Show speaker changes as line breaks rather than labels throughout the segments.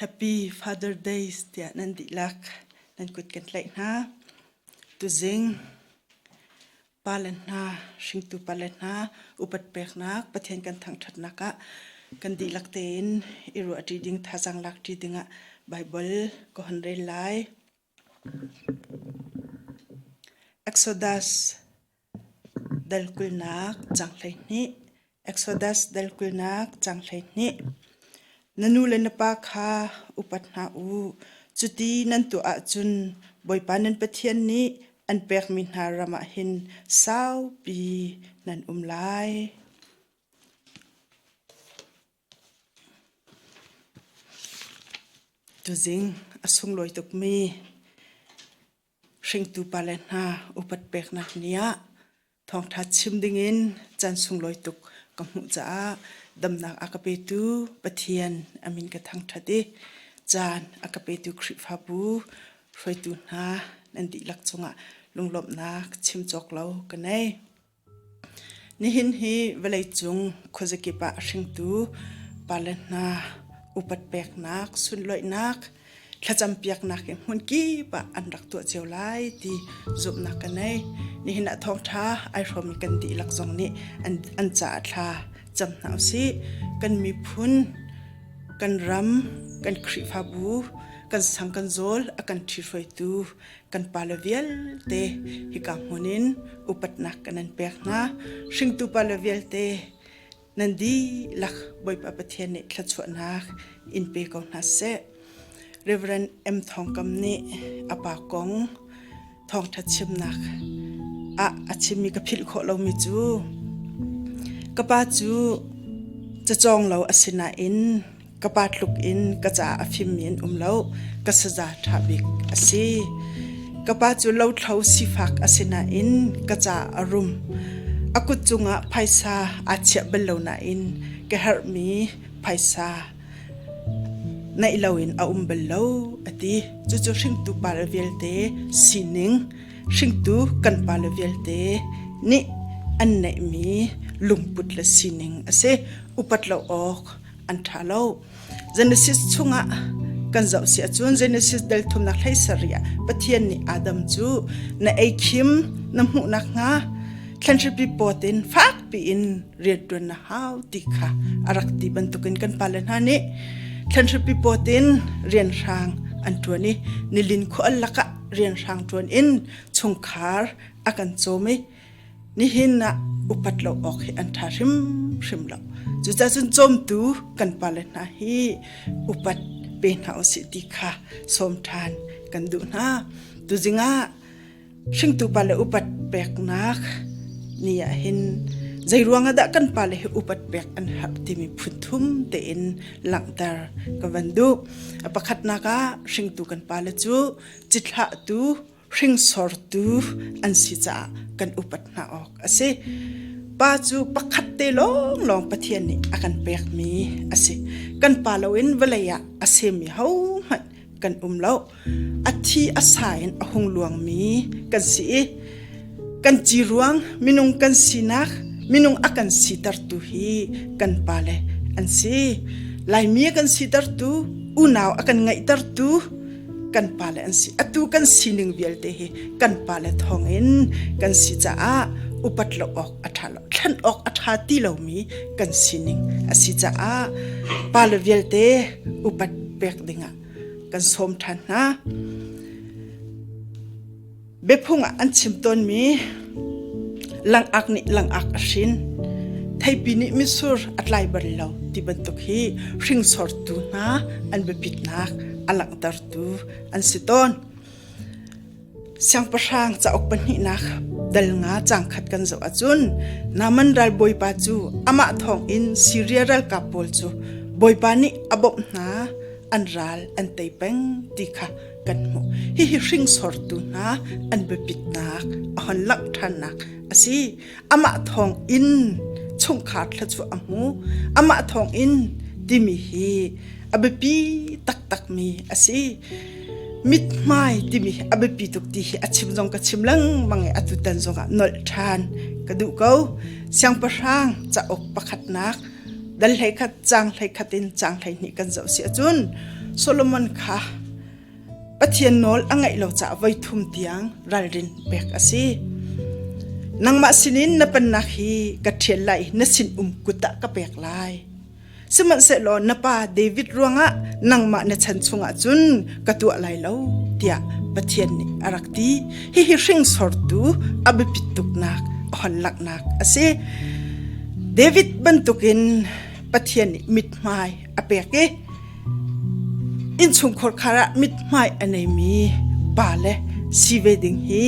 Happy Father Days tiah nan dihlak nan kut kan tlaih hna. Tuzing pale hna, hringtu pale hna, upat peknak Pathian kan thangthatnak ah kan dihlak tein i ruah ṭi ding, thazang lak ṭi dingah Baibal ka hun rel lai. Exodus dal kulnak cang hleihnih. Exodus dal kulnak cang hleihnih. Na nu le na pa kha upat hna u. Cuti nan tuah ahcun Bawipa nan Pathian nih an pekmi hna ram ah hin saupi nan um lai. Tuzing a sunglawi tukmi hringtu pale hna upat peknak ni ah thawngṭha chim dingin caan sunglawi tuk ka hmuh caah damnak a ka petu Pathian a min ka thangṭhat i caan a ka petu Khrihfabu hruaitu hna nan dihlak cungah lunglawmhnak chim cawk lo ka ngei. Nihin hi vawleicung khuazakip ah hringtu pale hna upat peknak, sunloihnak, thlacam piaknak hi hmunkip ah an rak tuah cio lai ti zumhnak ka nei. Nihin ah thawngṭha ai hrawmi kan dihlak zong nih an, an caah thla cam hna usih. Kan miphun, kan ram, kan Khrihfabu, kan sang kan zawl a kan ṭhi hruaitu kan pale vialte hika hmun in upatnak kan an pek hna hringtu pale vialte nan di lak bawipa pathian nih thlachuahnak in pe ko hna seh Reverend M Thongkam nih a pa kong thawngtha chimnak ah a chimmi ka philh khawh lomi cu ka pa cu cacawng lo asinain Ka pa tluk in ka caah a fimmi an um lo. Ka saza ṭha bik a si. Ka pa cu lothlo sifak a si nain ka caah a rum. A kut cungah phaisa aa chiah bal lo nain ka herhmi phaisa neih loin a um bal lo, a ti. Cucu hringtu pale vialte sining, hringtu kan pale vialte nih an neihmi lungput le sining a si. Upat lo awk an ṭha lo. Genesis chungah kan zoh si ahcun Genesis del thumnak hlei sarih ah Pathian nih Adam cu na ei khim na hmuh nakhnga thlanhripi pawt in fak piin rianṭuan na hau ti kha a rak ti bantukin kan pale hna nih thlanhripi pawt in rianhrang an ṭuan i nilin khual lakah rianhrang ṭuan in chungkhar a kan cawm i Nihin ah upat lo awk hi an ṭha hrimhrim lo. Cucahcun cawmtu kan pale hna hi upat pe hna u sih ti kha sawm ṭhan kan duh hna. Tuzing ah hringtu pale upat peknak ni ah hin zei ruangah dah kan pale hi upat pek an herh timi phunthum tein langhter ka van duh. Pakhatnak ah hringtu kan pale cu cithlahtu hringsortu an si caah kan upat hna awk a si. Pa cu pakhat te lawnglawng Pathian nih a kan pekmi a si. Kan pa loin vawlei ah a semi hohmanh kan um lo. A thi a sa in a hung luangmi kan si i kan ci ruang minung kan sinak minung a kan sitertu hi kan pa le an si. Laimi a kan sitertu, unau a kan ngaihtertu, kan pa le an si atu kan sining vialte hi kan pa le thawng in kan si caah upat lo awk a tha lo thlen awk a tha ti lomi kan sining a si caah pa le vialte upat pek dingah kan sawm than hna Biaphung ah an chim tawnmi langak nih langak a hrin. Theipi nih mitsur a tlai bal lo ti bantuk hi hringsortu hna an biapitnak a langhtertu an si tawn. Siangpahrang cauk pahnihnak dal nga cangkhat kan zoh ahcun Naman ralbawipa cu amah thawng in Syria ralkap pawl cu bawipa nih a bawmh hna an ral an tei peng ti kha kan hmuh. Hihi hringsortu hna an biapitnak a hon langh ṭhannak a si. Amah thawng in chungkhar thla cu a hmu. Amah thawng in timi hi a biapi taktakmi a si. Mithmai timi hi a biapi tuk ti hi a chim zong ka chim lengmang i atu tan zongah nolh ṭhan ka duh ko. Siangpahrang cauk pakhatnak Dan hleikhat cang hleikhat in cang hleihnih kan zoh si ahcun Solomon kha Pathian nawl a ngaih lo caah voi thum tiang ralrin pek a si. Nangmah sinin na pannak hi ka ṭhial lai na sin um kut ah ka pek lai. Sihmanhsehlaw na pa David ruangah nangmah na chan chungah cun ka tuah lai lo tiah Pathian nih a rak ti. Hihi hringsortu a biapit tuknak a hon laknak a si. David bantukin Pathian nih mithmai a pek i innchungkhar khar ah mithmai a neimi pa le si ve ding hi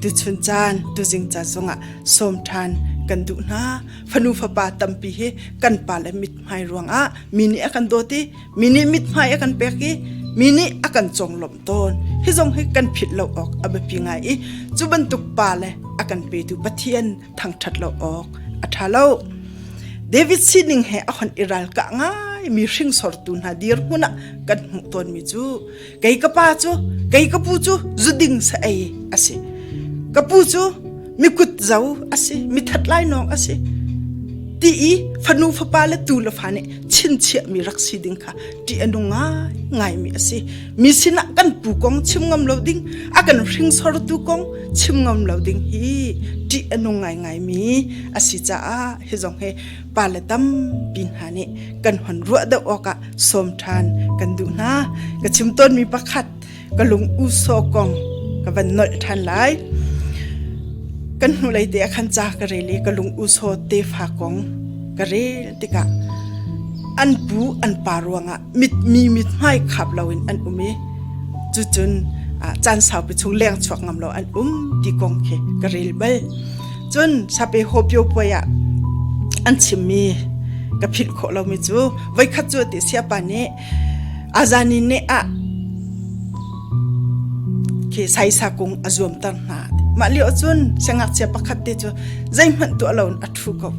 tuchun caan tuzing ca zongah som ṭhan kan duh hna fanu fapa tampi hi kan pa le mithmai ruangah mi nih a kan dawt i mi nih mithmai a kan pek i mi nih a kan conglawmh tawn. Hi zong hi kan phit lo awk a biapi ngai i cu bantuk pa le a kan petu Pathian thangṭhat lo awk a ṭha lo. David sining he a hon i ralkah ngai mi hringsortu hna dirhmun ah kan hmuh tawnmi cu kei ka pa cu kei ka pu cu zuding sa ei asi ka pu cu mikut zo asi mithat lainawng asi ti i fanu fapa le tu le fa nih chinchiah mi rak si ding kha ṭih a nung ngaimi a si mi sinah kan pu kong chim ngam lo ding a kan hringsortu kong chim ngam lo ding hi ṭih a nung ngaingai mi a si caah hi zong he pa le tampi hna nih kan hon ruah deuh awkah sawm ṭhan kan duh hna ka chim tawnmi pakhat ka lung uso kong ka van nolh ṭhan lai. Kan hnulei te ah khan ca ka rel i ka lung uso tefa kong ka rel tikah an pu an pa ruangah mit mi mit hmai khap loin an um i cucun caan saupi chung leng chuak ngam lo an um ti kong khi ka rel bal cun sape hopio puai ah an chimmi ka philh khawh lomi cu voikhat cu ti siapa nih Azan i neh ah khi saisa kung a zuamter hna. Mah lio cun siangngakchia pakhat te cu zeihmanh tuah loin a ṭhu ko.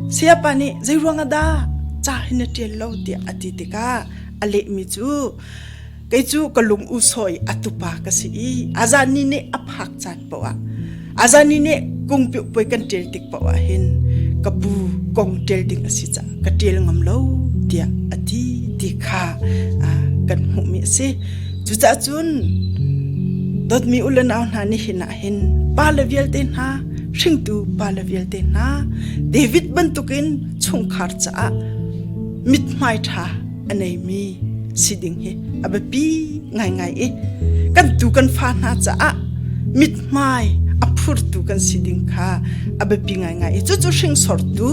Sayapa nih zei ruang ah dah ca hi na ṭial lo tiah a ti tikah a lehmi cu kei cu ka lung usawi a tupa ka si i a zan ni neh a phak caan paoh ah Azani nih kungpiuh puai kan ṭial tik paoh ah hin ka pu kong ṭial ding a si caah ka ṭial ngam lo tiah a ti ti kha kan hmuhmi a si. Cucaah cun dawtmi u le nau hna nihin ah hin pale vialte hna hringtu pale vialte hna David bantukin chungkhar caah mithmai ṭha a neimi si ding hi a biapi ngaingai i kan tu kan fa hna caah mithmai a phurtu kan si ding kha a biapi ngaingai i cucu hringsortu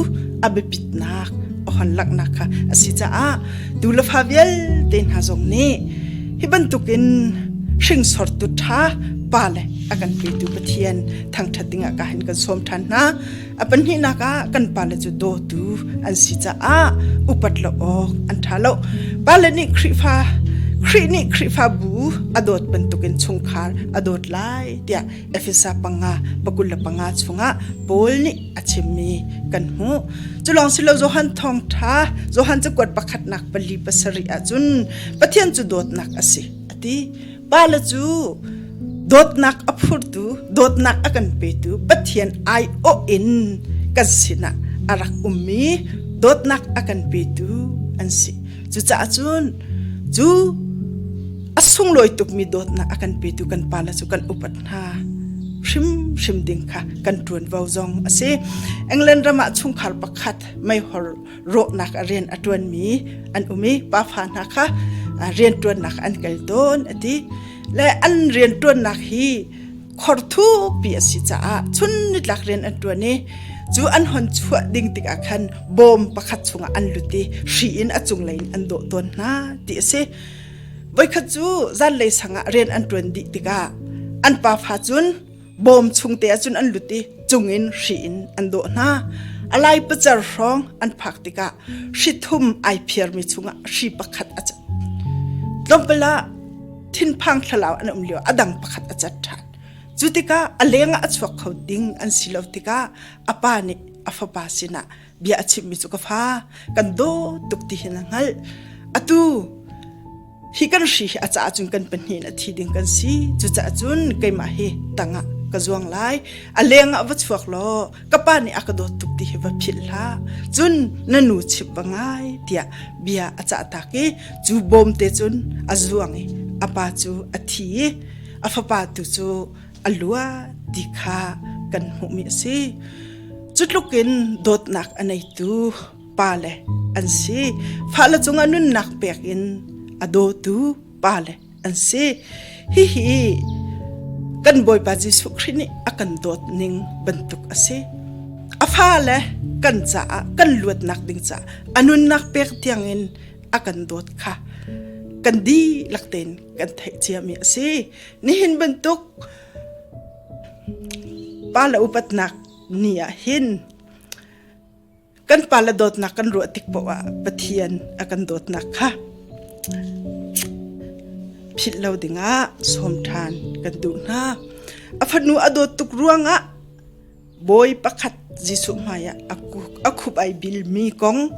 a biapitnak a hon laknak kha a si caah tu lafa vialte hna zong nih hi bantukin hringsortu tha pa le a kan petu pathian thangthat dingah ka hin kan som than hna A pahnihnak ah kan pale cu dawtu an si caah upat lo awk an ṭha lo. Pale nih Khrihfa Khrih nih Khrihfabu a dawt bantukin chungkhar a dawt lai tiah Efesa panga pakul le panga chungah Paul nih a chimmi kan hmuh. Cu lawng si lo Johan thawngṭha Johan cakuat pakhatnak pali pasarih ahcun Pathian cu dawtnak a si a ti. pale cu dawtnak a phurtu dawtnak a kan petu pathian ai awh in kan sinah a rak ummi dawtnak a kan petu an si cucaah cun cu a sunglawi tukmi dawtnak a kan petu kan pale cu kan upat hna hrimhrim ding kha kan ṭuanvo zong a si england ram ah chungkhar pakhat meihor rawhnak a rian a ṭuanmi an um i pafa hna kha rianṭuannak an kal tawn a ti le an rianṭuannak hi khorthupi a si caah chun nitlak rian an ṭuan i cu an hon chuah ding tikah khan bawm pakhat chungah an lut i hri in a cunglei in an dawh tawn hna ti a si voikhat cu zanlei sangah rian an ṭuan dih tikah an pafa cun bawm chungte ahcun an lut i cungin hri in an dawh hna a lai pacar hrawng an phak tikah hrithum ai phiarmi chungah hri pakhat a cat tlawmpal ah thinphang thlalau an um lio a dang pakhat a cat ṭhan cu tikah a lengah a chuak kho ding an si lo tikah a pa nih a fapa sinah bia a chimmi cu ka fa kan dawt tuk ti hin a hngalh atu hi kan hri hi a ca cun kan pahnih na thi ding kan si cucaah cun keimah hi tangah ka zuang lai a lengah va chuak law ka pa nih a ka dawt tuk ti hi va philh hla cun na nu chip va ngai tiah bia a cah tak i cu bawmte cun a zuang i a pa cu a thi i a fapa tu cu a luat ti kha kan hmuhmi a si. Cutluk in dawtnak a neitu pale an si. Fale cungah nunnak pek in a dawtu pale an si. Hihi kan Bawipa Jesuh Khrih nih a kan dawt ning bantuk a si. A fale kan caah kan luatnak ding caah a nunnak pek tiangin a kan dawt kha kan dihlak tein kan theih ciami a si. Nihin bantuk pale upatnak ni ah hin kan pale dawtnak kan ruah tik poah ah Pathian a kan dawtnak kha philh lo dingah sawm ṭhan kan duh hna. A fanu a dawt tuk ruangah Bawi pakhat Jesuh hmaiah a khup ai bilmi kong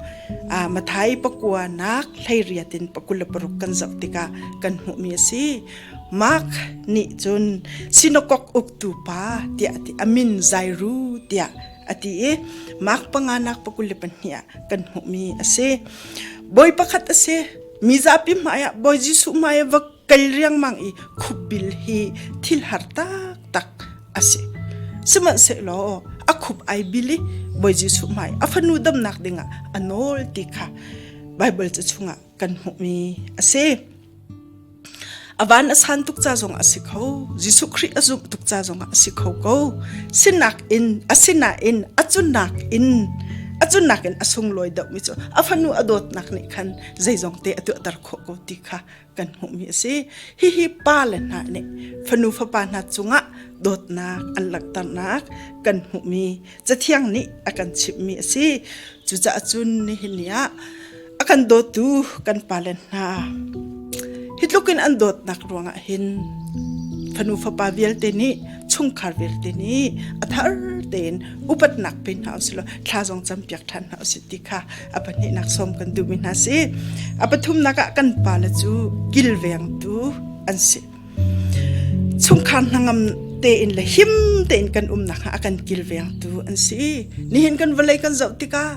Matthai pakuanak hleiriat in pakul le paruk kan zoh tikah kan hmuhmi a si. Mark nih cun sinakok uktu pa tiah a ti. A min Jairu tiah a ti i Mark panganak pakul le pahnih ah kan hmuhmi a si. Bawi pakhat a si. Mi zapi hmaiah Bawi Jesuh hmaiah va kei riangmang i khupbil hi thil har taktak a si sihmanhsehlaw a khup ai bil i bawi jesuh hmai a fanu damnak dingah a nawl ti kha bible ca chungah kan hmuhmi a si avan a san tuk ca zong a si kho jesuh khrih a zumh tuk ca zongah a si kho ko sinak in asinain a cunak in a cunak in a sunglawi deuhmi cu a fanu a dawtnak nih khan zeizong te a tuahter khawh ko ti kha kan hmuhmi a si. Hihi pa le hna nih fanu fapa hna cungah dawtnak an langhternak kan hmuhmi cathiang nih a kan chimhmi a si. Cucaah cun nihin ni ah a kan dawtu kan pa le hna hi tlukin an dawtnak ruangah hin fanu fapa vialte nih chungkhar vialte nih a thar tein upatnak pe hna usih law thla zong campiak ṭhan hna usih ti kha a pahnihnak som kan duhmi hna si a pathumnak ah kan pale cu kilvengtu an si chungkhar hnangam tein le him tein kan umnak a kan kilvengtu an si nihin kan vawlei kan zoh tikah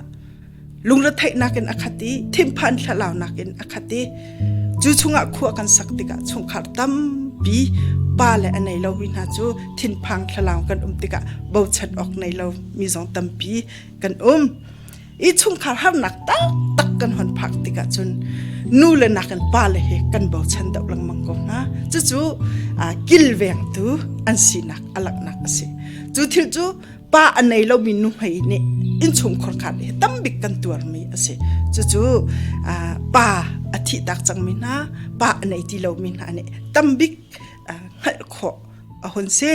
lungre theihnak in akhat i thingphan thlalaunak in akhat i cu chungah khua kan sak tikah chungkhar tampi pa le a nei lomi hna cu thinphang thlalau kan um tikah bochat awk nei lo mi zong tampi kan um i chungkhar harnak taktak kan hon phak tikah cun nu le nakin pale hi kan bochan deuh lengmang ko hna cucu kilvengtu an sinak alaknak asi cu thil cu pa a nei lomi nuhmei nih inchungkhor khan hi tam bik kan tuarmi asi cucu pa a thih tak cangmi hna pa a nei ti lomi hna nih tam bik hngalh khawh a hun si.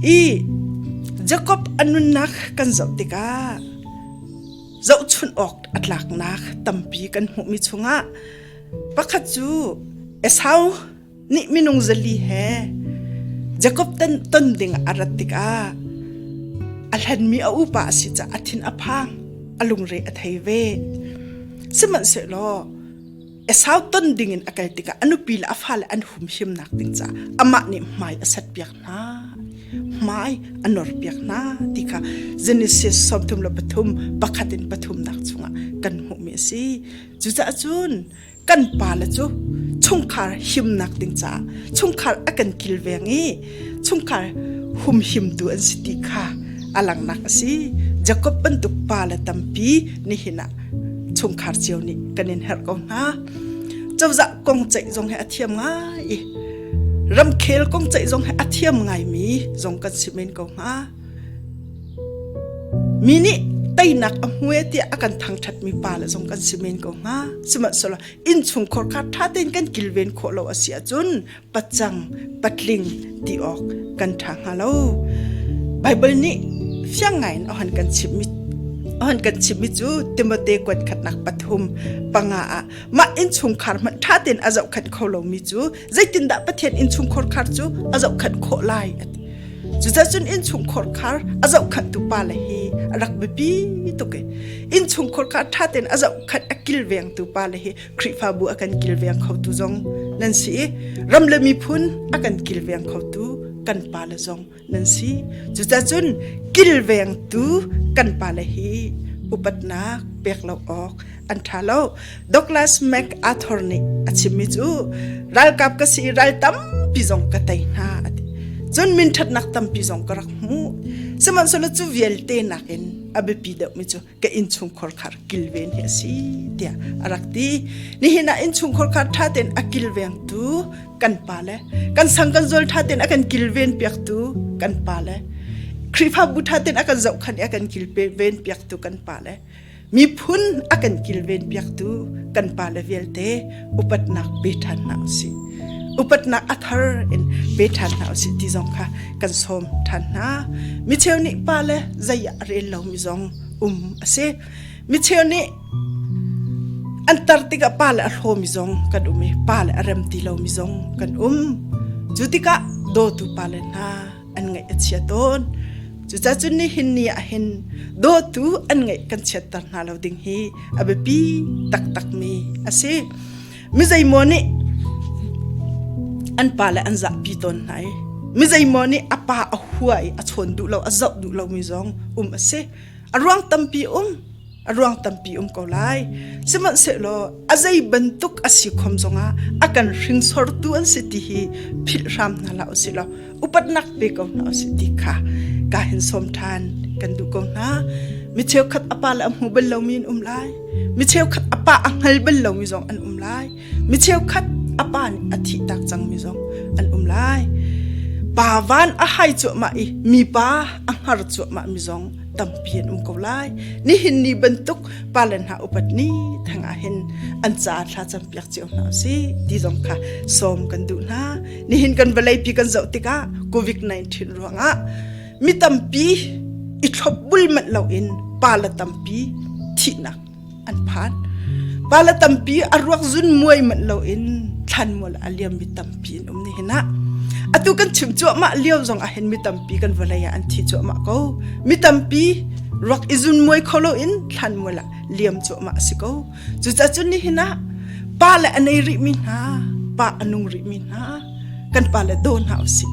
I Jakob a nunnak kan zoh tikah zohchunh awk a tlaknak tampi kan hmuhmi chungah pakhat cu Esau nih minung zali he Jakob ton ding a rat tikah a hlanmi a upa a si caah a thin a phang a lungre a thei ve. Sihmanhsehlaw a sau ton ding in a kal tikah a nupi le a fale an hum himnak ding caah amah nih hmai a set piak hna hmai a nor piak hna ti kha Genesis sawmthum le pathum pakhat in pathumnak chungah kan hmuhmi a si cucaah cun kan pa le cu chungkhar himnak ding caah chungkhar a kan kilveng i chungkhar humhimtu an si ti kha a langnak a si jakob bantuk pa le tampi nihin ah chungkhar cio nih kan in herh ko hna cozah kong ceih zong he a thiam ngai i ramkhel kong ceih zong he a thiam ngaimi zong kan si men ko hnga mi nih teinak a hmue tiah a kan thangthat mi pa le zong kan si men ko hnga sihmanhsehlaw inn chungkhor kha tha tein kan kilven khawh lo a si ahcun pacang patling ti awk kan ṭha hnga lo. Baibal nih fiang ngaiin ohan kan chimmi ohan kan chimmi cu Timote kuat khatnak pathum panga ah mah innchungkhar hmanh ṭha tein a zohkhenh kho lomi cu zeitindah Pathian innchungkhar khar cu a zohkhenh khawh lai a ti. Cuzacun innchungkhar khar a zohkhanhtu pale hi a rak biapi tuk i innchungkhar khar ṭha tein a zohkhenh a kilvengtu pale hi Khrihfabu a kan kilveng khotu zong nan si i ram le miphun a kan kilveng khotu kan pa le zong nan si cucacun kilvengtu kan pa le hi upatnak pek lo awk an tha lo Douglas MacArthur nih a chimmi cu ralkap ka si ral tampi zong ka tei hna ati cun min thatnak tampi zong ka rak hmu sihmanhsehlaw cu vialte nakin a biapi deuhmi cu ka innchungkhar khar kilven hi asi tia arak ti nihin a innchungkhar khar tha ten a kilveng tu kan pa le kan sang kan zol tha ten akan kilven piak tu kan pa le khrifa bu tha ten akan zau khan akan kilpe ven piak tu kan pa le mi phun akan kilven piak tu kan pa le vialte upatnak pe ṭhan hna u sih. Upatnak a thar in pe ṭhan hna u sih ti zong kha kan sawm ṭhan hna. Micheu nih pa le zei ah rel lomi zong um a si. Micheu nih an tar tikah pa le a hlawmi zong kan um i pa le a rem ti lomi zong kan um. Cu tikah dawtu pale hna, an ngaih a chia tawn cucah cun nihin ni ahhin dawtu an ngaih kan chiatter hna lo ding hi a biapi taktakmi a si mizeimaw nih an pa le an zahpi tawn hna i mizeimaw nih a pa a hua i a chawn duh lo a zoh duh lomi zong um a si a ruang tampi um a ruang tampi um ko lai sihmanhsehlaw a zei bantuk a si khom zongah a kan hringsortu an si ti hi philh hram hna la usi lo upatnak pe ko hna usi ti kha ka hin som than kan du ko hna mi cheu khat apa la mu bal lomi in um lai mi cheu khat apa a ngal bal lomi zong an um lai mi cheukhat a pa nih a thih tak cangmi zong an um lai pa van a hai cuahmah i mi pa a hngar cuahmah mi zong tampi an um ko lai nihin ni bantuk palen ha upat ni thanga hin an ca thla champiak cio hna si ti zong kha som kan duh hna nihin kan valei pi kan zoh tikah covid-19 ruangah mi tampi i thlop bul manh lo in pa la tampi thihnak an phan pala tampi a ruak zun muai man lo in thlan mual a liam mi tampi in um ni hina atu kan chim chuah ma liau zong a hen mi tampi kan volaya an thi chuah ma ko mi tampi ruak izun muai kholo in thlan mual liam chuah ma si ko cu cha chun ni hina pa le anei ri mi hna pa anung ri mi hna kan pale daw hna usih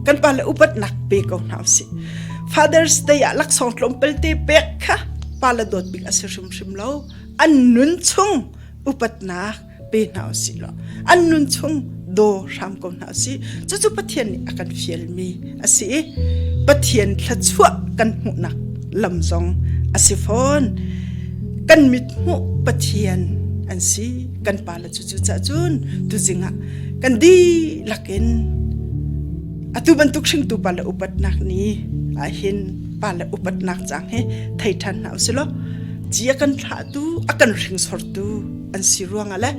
kan pale upatnak pe ko hna usih father's day ah laksawng tlawmpal te pek kha pale dawt bik a si hrimhrim lo an nun chung upatnak pe hna usih law an nun chung do hram ko hna usih cucu pathian nih a kan fialmi a si i pathian thlachuah kan hmuhnak lam zong a si fawn kan mit hmuh pathian an si kan pa cucu cahcun tuzing ah kan dihlak in atu bantuk hringtu pa le upatnak ni ahin pa le upatnak chang hi thei than hna usilo ci a kan thlahtu a kan hringsortu an si ruanga le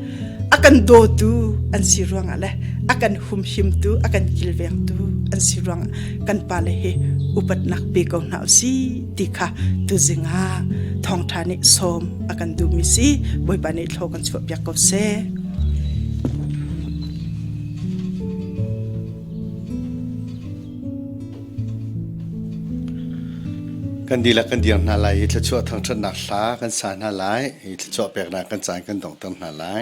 a kan dotu an si ruanga le a kan humhimtu a kan kilvengtu an si ruang kan pa le hi upatnak pe ko hna usi ti kha tuzing ah thawngtha nih sawm a kan duhmi si bawipa nih thlo kan chuah piak ko seh kan dihlak kan dir hna lai i thluachuah thangthatnak hla kan sa hna lai i thluachuah peknak kan
caan kan dongter hna lai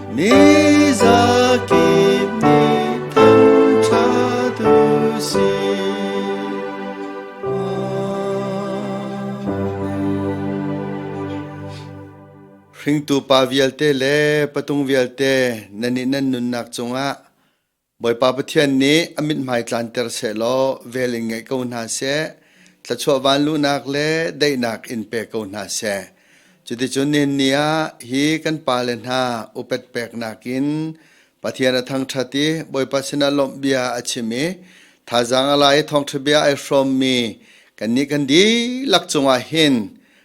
Hringtu pa vialte le patung vialte nanih nan nunnak cungah Bawipa Pathian nih a mithmai tlanter sehlaw vel in ngaih ko hna seh, thluachuah vanluhnak le daihnak in pe ko hna seh. Cuticun nihnni ah hi kan pale hna upet peknak in Pathian a thangṭhat i Bawipa sinah lawmh bia a chim i thazaang a la i thawngṭha bia ai hrawmmi kannih kan dihlak cungah hin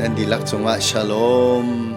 Nan dihlak cungah shalom.